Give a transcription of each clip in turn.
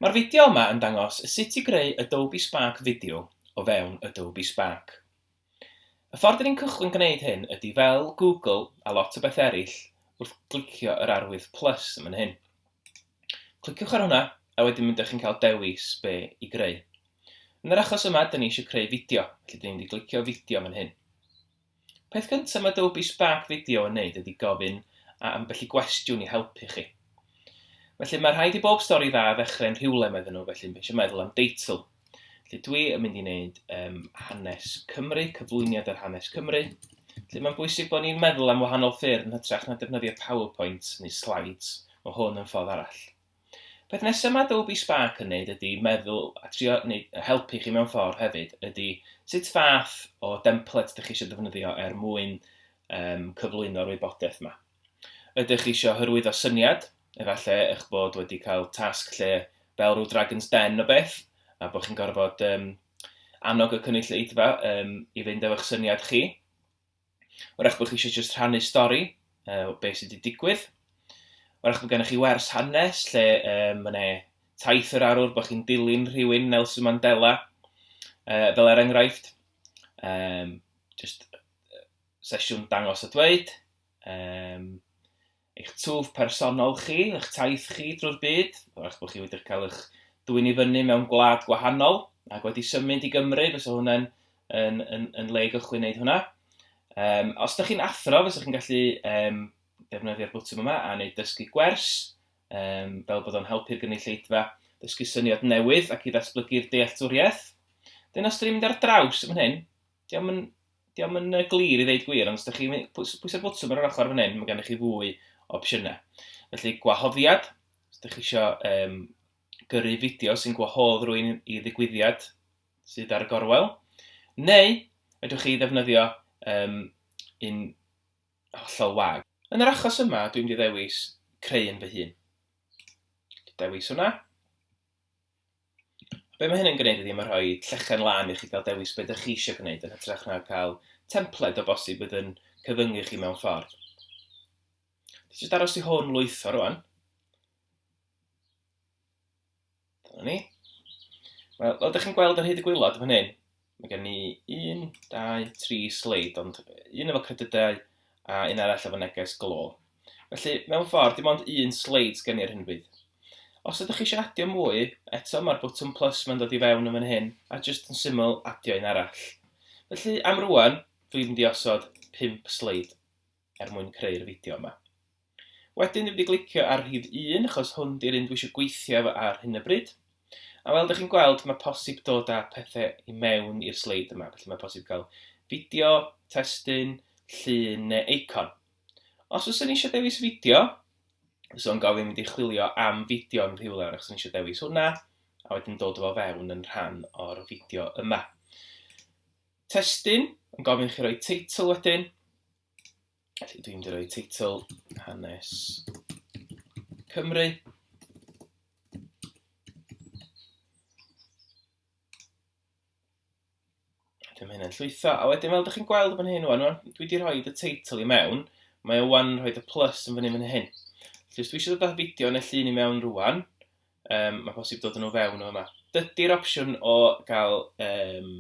Mae'r fideo yma yn dangos sut i greu Adobe Spark Video o fewn Adobe Spark. Y ffordd rydyn ni'n cychwyn gwneud hyn ydy fel Google a lot o beth eraill wrth glicio yr arwydd plus yn fan hyn. Cliciwch ar hwnna a wedyn mynd â chi'n cael dewis be i greu. Yn yr achos yma, dyn ni eisiau creu fideo, felly dyn ni'n mynd i glicio fideo fan hyn. Peth cyntaf mae Adobe Spark Video yn wneud ydy gofyn a ambell i gwestiwn i helpu chi. Felly mae rhaid i bob stori dda ddechrau'n rhywle meddyn nhw, felly mae eisiau meddwl am deitl. Felly dwi yn mynd i wneud um, hanes Cymru, cyflwyniad ar hanes Cymru. Felly mae'n bwysig bod ni'n meddwl am wahanol ffyrdd yn hytrach na defnyddio PowerPoint neu slides, mae hwn yn ffordd arall. Peth nesaf mae Adobe Spark yn wneud ydy meddwl a trio wneud, helpu chi mewn ffordd hefyd ydy sut fath o demplets ydych chi eisiau defnyddio er mwyn um, cyflwyno'r wybodaeth yma. Ydych chi eisiau hyrwyddo syniad, efallai eich bod wedi cael tasg lle fel rhyw Dragon's Den o beth, a bod chi'n gorfod um, annog y cynulleidfa um, i fynd efo'ch syniad chi. Wrach bod chi eisiau just rhannu stori uh, o beth sydd wedi digwydd. Wrach bod gennych chi wers hanes lle um, mae yna taith yr arwr bod chi'n dilyn rhywun Nelson Mandela, uh, fel er enghraifft. Um, just sesiwn dangos a dweud. Um, eich twf personol chi, eich taith chi drwy'r byd, wrach bod chi wedi cael eich dwyn i fyny mewn gwlad gwahanol ac wedi symud i Gymru, fysa hwnna'n yn, yn, yn le i gychwyn wneud hwnna. Um, os ydych chi'n athro, fysa chi'n gallu um, defnyddio'r bwtwm yma a wneud dysgu gwers, um, fel bod o'n helpu'r gynulleidfa dysgu syniad newydd ac i ddatblygu'r dealltwriaeth. Dyn os dyn ni'n mynd ar draws yn hyn, Diolch yn, diolch yn uh, glir i ddeud gwir, ond os ydych chi'n pwysau bwtwm ar yr ochr fan hyn, mae gennych chi fwy o opsiynau. Felly, gwahoddiad, os ydych chi eisiau um, gyrru fideo sy'n gwahodd rwy'n i ddigwyddiad sydd ar y gorwel, neu ydych chi ddefnyddio um, un hollol wag. Yn yr achos yma, dwi'n mynd i ddewis creu yn fy hun. Dewis hwnna. Be mae hyn yn gwneud ydy mae rhoi llechen lan i chi gael dewis beth ydych chi eisiau gwneud yn hytrach na cael templed o bosib bydd yn cyfyngu chi mewn ffordd. Dwi jyst aros i hwn lwytho rwan. Dyna ni. Wel, fel ydych chi'n gweld ar hyd y gwylod fan hyn, Mae gen ni un, dau, tri sleid, ond un efo credydau a un arall efo neges glo. Felly, mewn ffordd, dim ond un sleid gen i ar hyn bryd. Os ydych chi eisiau adio mwy, eto mae'r botwm plus mae'n dod i fewn yn fan hyn, a jyst yn syml adio un arall. Felly, am rwan, dwi'n mynd i osod 5 sleid. er mwyn creu'r fideo yma. Wedyn dwi wedi glicio ar rhif 1 achos hwn di'r un dwi eisiau gweithio efo ar hyn o bryd. A fel ydych chi'n gweld mae posib dod â pethau i mewn i'r sleid yma, felly mae posib cael fideo, testun, llun neu eicon. Os oes yn eisiau dewis fideo, so yn gofyn mynd i chwilio am fideo yn rhywle ond achos yn eisiau dewis hwnna, a wedyn dod o fewn yn rhan o'r fideo yma. Testun, yn gofyn i chi roi teitl wedyn. Felly dwi'n mynd i roi teitl hanes Cymru. Wedyn mae hynny'n llwytho. A wedyn fel ydych chi'n gweld fan hyn o'n, dwi wedi rhoi y teitl i mewn. Mae o'n rhoi y plus yn fan hyn fan hyn. Felly os dwi eisiau dod â fideo yn y llun i mewn rwan, um, mae posib dod nhw fewn o yma. Dydy'r opsiwn o gael um,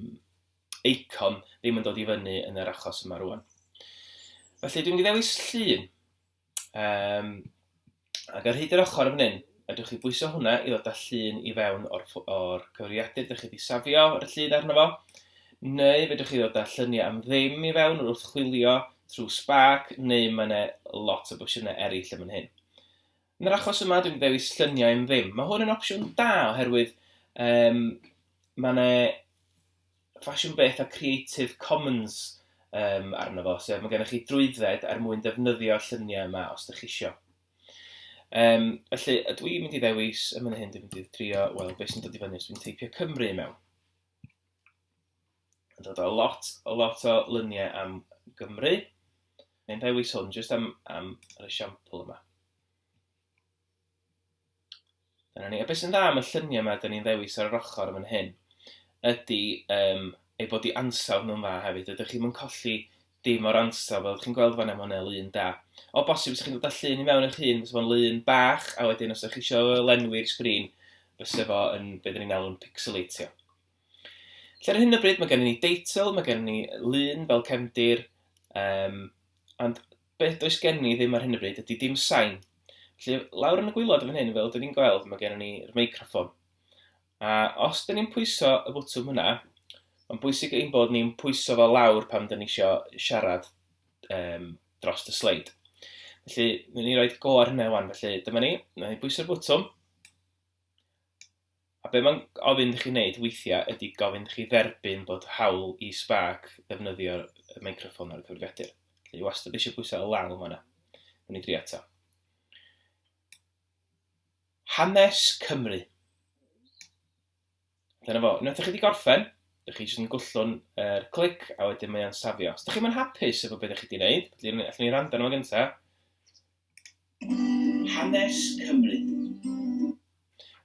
eicon ddim yn dod i fyny yn yr achos yma rwan. Felly dwi'n gyddewis llun. Um, ac ar hyd yr ochr fan hyn, ydych chi bwyso hwnna i ddod â llun i fewn o'r, or cyfriadur ydych chi wedi safio y llun arno fo, neu fedrwch chi ddod â lluniau am ddim i fewn wrth chwilio trwy Spark, neu mae yna lot o bwysynau eraill yn fan hyn. Yn yr achos yma, dwi'n dewis lluniau yn ddim. Mae hwn yn opsiwn da oherwydd um, mae yna ffasiwn beth a Creative Commons um, arno fo, sef mae gennych chi drwydded er mwyn defnyddio lluniau yma os ydych chi eisiau. Um, felly, ydw i'n mynd i ddewis, ym yn hyn dwi'n mynd i drio, wel, beth sy'n dod i fyny os dwi'n teipio Cymru mewn. Dod o lot, o lot o lyniau am Gymru. Mae'n dewis hwn, jyst am, am yr esiampl yma. Dyna ni. A beth sy'n dda am y lluniau yma, dyn ni'n ddewis ar yr ochr yn hyn, ydy um, ei bod i ansawdd nhw'n dda hefyd. Ydych chi'n mynd colli dim mor ansawdd, fel chi'n gweld fan 'na, ma' hwnna lun da. O bosib, os chi'n dod â llun i mewn eich hun, fysa fo'n lun bach, a wedyn os ydych chi eisiau lenwi'r sgrin, fysa fo yn be dyn ni'n alw'n pixelatio. Lle ar hyn o bryd, mae gennym ni deitl, mae gennym ni lun fel cefndir, um, ond beth does gen ni ddim ar hyn o bryd ydy dim sain. Felly, lawr yn y gwylod yn fan hyn, fel dyn ni'n gweld, mae gennym ni'r meicroffon. A os dyn ni'n pwyso y bwtwm hwnna, mae'n bwysig ein bod ni'n pwyso fo lawr pan dyn ni isio siarad um, dros y sleid. Felly, ni'n ni roi go ar hynna wan. Felly, dyma ni, na ni bwyso'r bwtwm. A be mae'n ofyn chi wneud weithiau ydy gofyn chi dderbyn bod hawl i Spark ddefnyddio'r microfon ar y cyfrifiadur. Felly, wastad eisiau bwyso y lawr yma. Ni'n ni dri eto. Hanes Cymru. Dyna fo. Unwaith ydych chi wedi gorffen, ydych chi jyst yn gwllwn yr clic a wedyn mae o'n safio. Os ydych chi'n hapus efo beth ydych chi wedi gwneud, felly ni- allwn ni rando arno fo gynta. Hanes Cymru.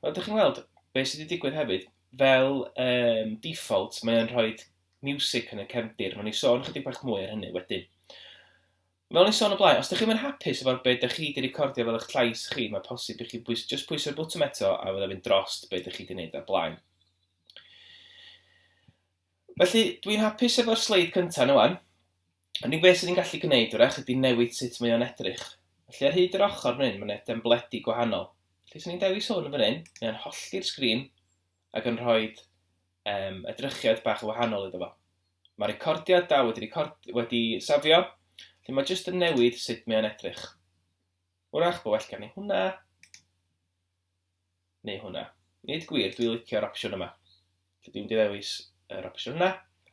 Wel, ydych chi'n gweld be sydd wedi digwydd hefyd, fel um, default, mae o'n rhoi music yn y cefndir. Mae'n ei sôn chydig bach mwy ar hynny wedyn. Fel o'n i'n sôn o blaen, os dych chi'm yn hapus efo'r be dych chi 'di recordio fel eich llais chi, mae posib i chi bwys, just pwyso'r bwtwm eto a fydda fynd drost be dych chi 'di neud ar blaen. Felly, dwi'n hapus efo'r sleid cyntaf yn wan. Yn unig beth sydd yn gallu gwneud wrach ydy newid sut mae o'n edrych. Felly ar hyd yr ochr fan hyn, mae'n tembledi gwahanol. Felly, os ni'n dewis hwn yn fan hyn, mae o'n hollti'r sgrin. ac yn rhoi um, edrychiad bach wahanol iddo fo. Mae recordiad da wedi, record, wedi safio, lle mae jyst yn newid sut mae'n edrych. Wrach bod well gan ni hwnna, neu hwnna. Nid gwir, dwi'n licio'r opsiwn yma. Dwi'n mynd i ddewis yr opsiwn yna.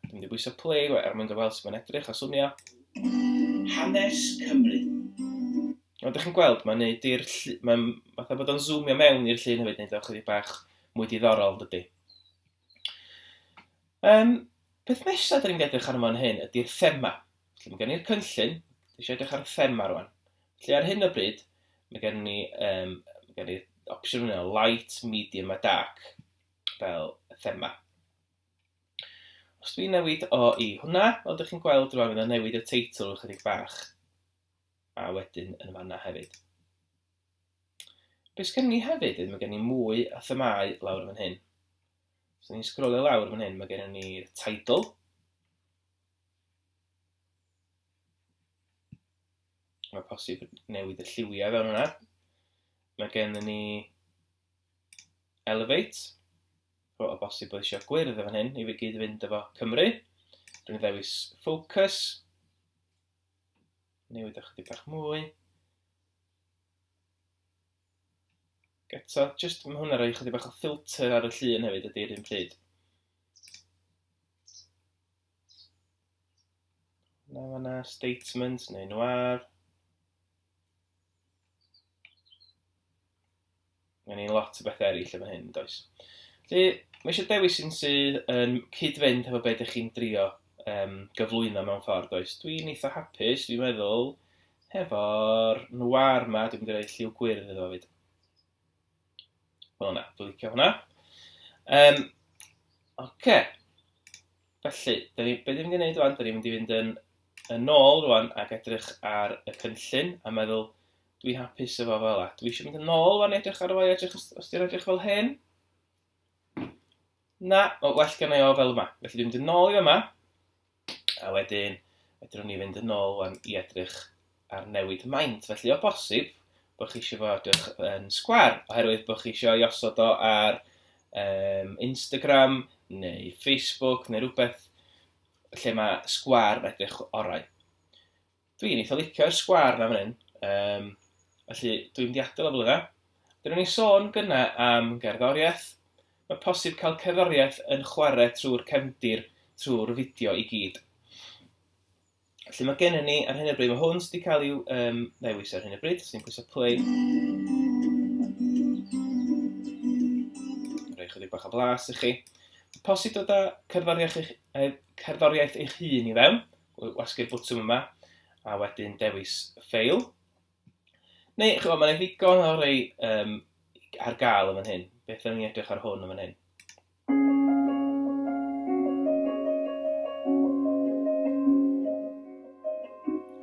Dwi'n mynd i bwyso play rwan er mwyn cael gweld sut mae'n edrych a swnio. Hanes Cymru. Ond ydych chi'n gweld, mae'n neud i'r llun, mae'n fatha bod o'n zoomio mewn i'r llun hefyd, neud o'n chydig bach mwy diddorol, dydy. Um, peth nesaf dyn ni'n edrych arno fo'n hyn ydy'r thema. Felly mae gen i'r cynllun, dwi eisiau edrych ar y thema rwan. Felly ar hyn o bryd, mae gen ni, um, mae gen ni opsiwn yna light, medium a dark fel thema. Os dwi'n newid o i hwnna, fel ydych chi'n gweld rwan, fydd o'n newid y teitl ychydig bach. A wedyn yn fanna hefyd. Be sgan ni hefyd, mae gen ni mwy a themau lawr fan hyn. Os ni'n sgrolio lawr fan hyn, mae gen ni'r title. Mae posib newid y lliwiau fewn yna. Mae gen ni elevate. Rho o bosib bod eisiau gwyrdd efo hyn i fi gyd fynd efo Cymru. Dwi'n ddewis focus. Newid ychydig bach mwy. Eto, just mae hwnna rhoi chydig bach o ffilter ar y llun hefyd ydy'r un pryd. Na, mae yna statement neu noir. Mae'n un lot o bethau eraill efo hyn, does? Felly, mae eisiau dewis un sydd yn cyd-fynd hefo beth ydych chi'n drio um, gyflwyno mewn ffordd, does? Dwi'n eitha hapus, dwi'n meddwl, hefo'r noir yma, dwi'n mynd i roi lliw gwyrdd iddo fyd. Wel na, dwi'n licio hwnna. Um, Oce. Okay. Felly, da ni, beth ni'n mynd i wneud rwan? Da ni'n mynd i fynd yn, yn ôl rwan ac edrych ar y cynllun a meddwl, dwi'n hapus efo fel yna. Dwi eisiau mynd yn ôl rwan edrych ar y fai edrych os, os di'n edrych fel hyn. Na, o, well gen i o fel yma. Felly dwi'n mynd yn ôl i yma. A wedyn, fedrwn ni fynd yn ôl wan i edrych ar newid maint. Felly, o bosib, bod chi eisiau fo edrych yn sgwar, oherwydd bod chi eisiau ei osod o ar um, Instagram neu Facebook neu rhywbeth lle mae sgwar yn edrych orau. Dwi'n eitha licio'r sgwâr yna fan hyn, um, felly dwi'n mynd i adael o fel yna. Dyn nhw'n ei sôn gyna am gerddoriaeth. Mae posib cael cerddoriaeth yn chwarae trwy'r cefndir trwy'r fideo i gyd. Felly mae gennym ni ar hyn o bryd, mae hwn sydd wedi cael i'w um, ddewis ar hyn o bryd, sy'n pwysau play. Rhaid chydig bach o blas i chi. Posib dod â cerddoriaeth eich, eh, cerddoriaeth eich hun i fewn, wasgu'r bwtwm yma a wedyn dewis ffeil. Neu, chi'n gwybod, mae'n ei ddigon o rei um, ar gael yn fan hyn. Beth ydym ni'n edrych ar hwn yn fan hyn?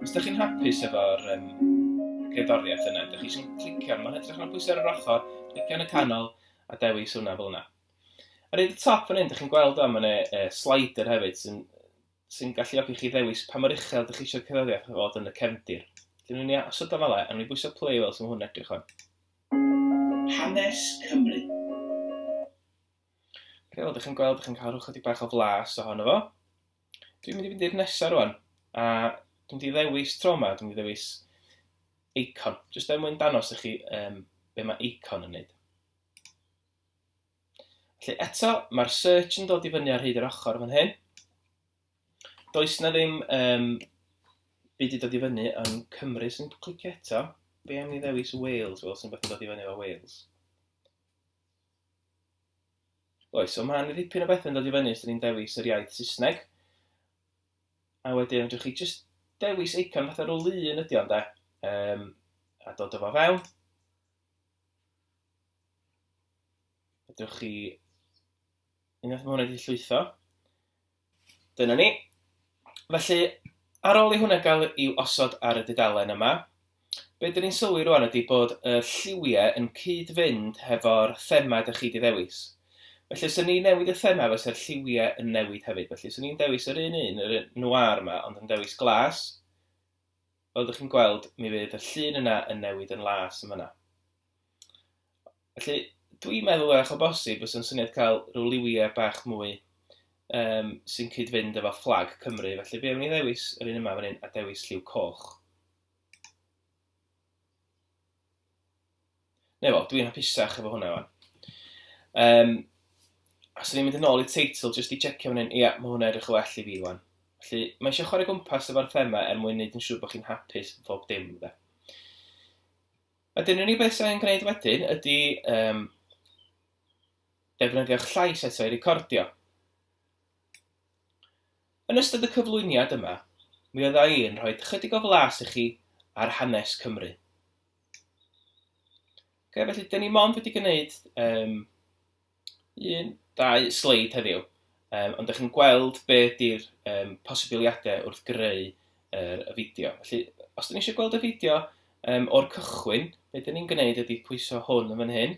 Os ydych chi'n hapus efo'r um, gerddoriaeth yna, ydych chi eisiau clicio, mae'n edrych ar bwysau ar yr ochr, clicio yn y canol a dewis hwnna fel yna. Ar y top fan hyn, ydych chi'n gweld o, mae'n e, slider hefyd sy'n sy'n galluogi chi ddewis pa mor uchel dych chi eisiau cerddoriaeth i fod yn y cefndir. Dyn ni'n iaso dyfalau a ni'n bwyso play i weld sut mae hwn yn edrych wan. Hanes Cymru. Ok, fel dych chi'n gweld, dych chi'n cael rhywch ydy bach o flas ohono fo. Dwi'n mynd i fynd i'r nesaf rwan, a dwi'n mynd i ddewis tro yma, dwi'n mynd i ddewis icon. Jyst er mwyn danos i chi um, be mae icon yn neud. Felly eto, mae'r search yn dod i fyny ar hyd yr ochr fan hyn. Does na ddim um, byd i dod i fyny yn Cymru, sy'n so clicio eto. Be am ni ddewis Wales, wel, sy'n beth yn dod i fyny efo Wales. Oes, so mae'n ddipyn o bethau yn dod i fyny os ni'n dewis yr iaith Saesneg. A wedyn, ydych chi just dewis eicon fatha rhyw lun ydi ond e, um, a dod o fo fewn. Fedrwch chi... Unwaith mae hwnna wedi llwytho. Dyna ni. Felly, ar ôl i hwnna gael i'w osod ar y dudalen yma, be dyn ni'n sylwi rwan ydy bod y lliwiau yn cyd-fynd hefo'r thema dych chi wedi ddewis. Felly, os ni'n newid y thema, fysa'r lliwiau yn newid hefyd. Felly, os ni'n dewis yr un un, yr un noir yma, ond yn dewis glas, Fel ydych chi'n gweld, mi fydd y llun yna yn newid yn las yn fyna. Felly, dwi'n meddwl eich o bosib, os yn syniad cael rhyw liwiau bach mwy um, sy'n cyd-fynd efo fflag Cymru. Felly, fe wnawn ni ddewis yr un yma fan hyn a dewis lliw coch. Neu wel, dwi'n hapusach efo hwnna fan. Um, a swn i'n mynd yn ôl i teitl jyst i checio fan hyn, ia, mae hwnna edrych o well i fi fan. Felly, mae eisiau chwarae gwmpas efo'r thema er mwyn wneud yn siŵr bod chi'n hapus yn pob dim, dda. A dyn ni'n ei beth sy'n gwneud wedyn ydy um, defnyddio'ch llais eto i recordio. Yn ystod y cyflwyniad yma, mi oedda i'n rhoi chydig o flas i chi ar hanes Cymru. Ok, felly, dyn ni mond wedi gwneud um, un, dau sleid heddiw, um, ond ydych chi'n gweld be ydy'r um, posibiliadau wrth greu er, y fideo. Felly, os ydych ni eisiau gweld y fideo um, o'r cychwyn, be dyn ni'n gwneud ydy pwyso hwn yn fan hyn.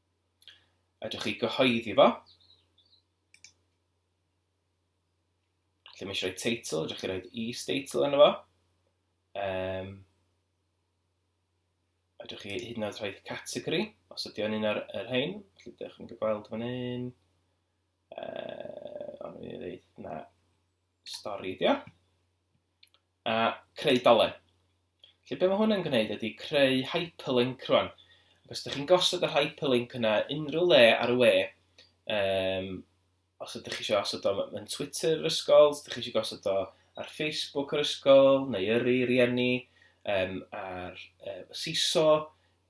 Rhaid chi gyhoeddi fo. Lle mae eisiau rhoi teitl, rhaid chi rhoi is-teitl yna fo. Um, rhaid chi hyd yn oed rhoi categori, os ydy o'n un o'r er hein. Felly, ydych chi'n gweld fan hyn. Uh, ond fi'n dweud, na, stori ydi o. a creu dolen. Felly be mae hwn yn gwneud ydy creu hyperlink rwan. Ac os ydych chi'n gosod yr hyperlink yna unrhyw le ar y we, um, os ydych chi eisiau gosod o yn Twitter yr ysgol, os ydych chi eisiau gosod o ar Facebook yr ysgol, neu yrru rieni, um, ar uh, siso,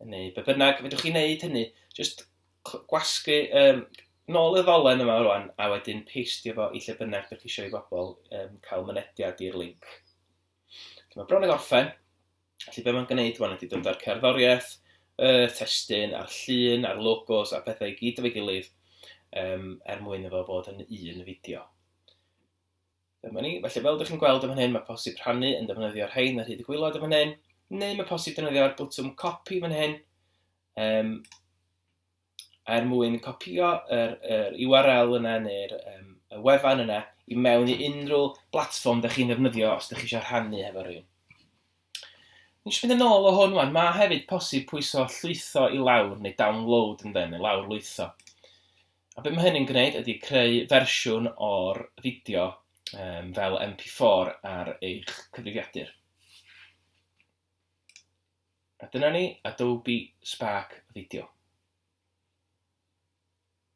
neu be bynnag, fedrwch chi wneud hynny, jyst gwasgu um, nôl y ddolen yma rwan, a wedyn peistio fo i lle bynnag dych chi eisiau i bobl um, cael mynediad i'r link. Felly mae bron yn gorffen. Felly be mae'n gwneud rwan ydy dod â'r cerddoriaeth, y testyn, a'r llun, a'r logos, a pethau i gyd efo'i gilydd, um, er mwyn efo bod yn un fideo. Dyma ni. Felly, fel ydych chi'n gweld yn fan hyn, mae posib rhannu yn defnyddio'r rhain ar hyd y gwylod yn fan hyn, neu mae posib defnyddio'r bwtwm copi fan hyn, Yym, er mwyn copio yr, yr URL yna neu'r um, y wefan yna i mewn i unrhyw blatfform da chi'n ddefnyddio os da chi eisiau rhannu hefo rhywun. Ni'n eisiau mynd yn ôl o hwn wan, mae hefyd posib pwyso llwytho i lawr neu download yn dde, neu lawr lwytho. A beth mae hynny'n gwneud ydy creu fersiwn o'r fideo um, fel MP4 ar eich cyfrifiadur. A dyna ni, Adobe Spark Video.